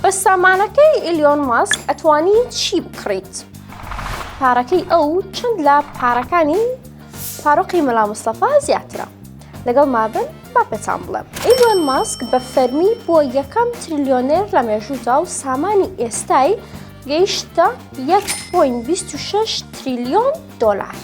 بە سامانەکەی ئیلیۆن ماسک ئەتوانی چی بکڕیت؟ پارەکەی ئەو چەند لە پارەکانی فاروقی مەلا مستەفا زیاترە لەگەڵ مابن با پێتان بڵێم ئیلیۆن ماسک بە فەرمی بۆ یەکەم تریلیۆنێر لە مێژوودا و سامانی ئێستای گەیشتە 1.26 تریلیۆن دۆلار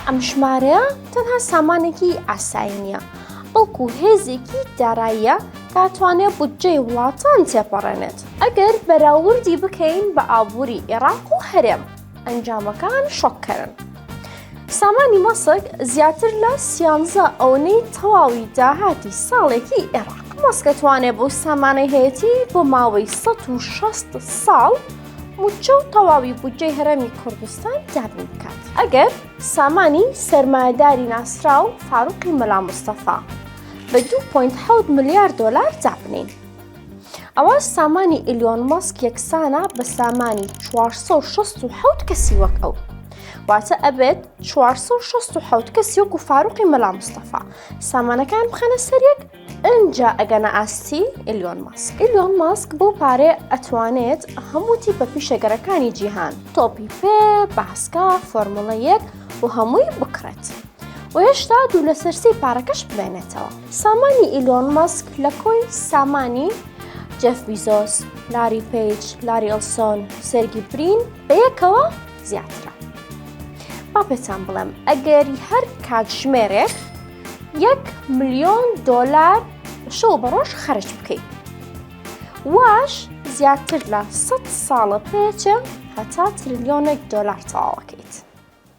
ئەم ژمارەیە تەنها سامانێکی ئاسایی نییە بەڵکو هێزێکی داراییە دەتوانێت بودجەی وڵاتان تێپەڕێنێت ئەگەر بەراوردی بکەین بە ئابووری ئێراق و هەرێم ئەنجامەکان شۆککەرن. سامانی مەسک زیاتر لە سیانزە ئەونەی تەواوی داهاتی ساڵێکی ئێراق. مەسکەتوانێ بۆ سامانەی هەیەتی بۆ ماوەی 16 ساڵ موچە و تەواوی بودجەی هەرەمی کوردستان دابین بکات ئەگەر سامانی سەرمایداری ناسراو فاروقی مەلا مستەفا بە دوو پۆینت حەوت ملیار دۆلار دابنین ئەوە سامانی ئیلیۆن ماسک یەکسانە بە سامانی 467 کەسی وەک ئەو واتە ئەبێت 467 کەسی وەکو فاروقی مەلا مستەفا سامانەکان بخەنە سەرێک ئەجا ئەگەنە ئاستی ئلیۆن ماسک ئلیۆن ماسک بۆ پارێ ئەتوانێت هەموو تیپە پیشەگەرەکانی جیهان تۆپی پێ باسکە فۆرمڵە یەک و هەمووی بکڕێت. و هێشتا دوو لەسەر سێی پارەکەش بمێنێتەوە. سامانی ئیلۆن مەسک لە کۆی سامانی جێف بیزۆس، لاری پەیج، لاری ئێلسۆن، سێرگی برین بە یەکەوە زیاترە. با پێتان بڵێم ئەگەر هەر کاتژمێرێک یەک ملیۆن دۆلار شەو بە ڕۆژ خەرج بکەیت. واش زیاتر لە سەد ساڵە پێچە هەتا تریلیۆنێک دۆلار تەواوەکەیت.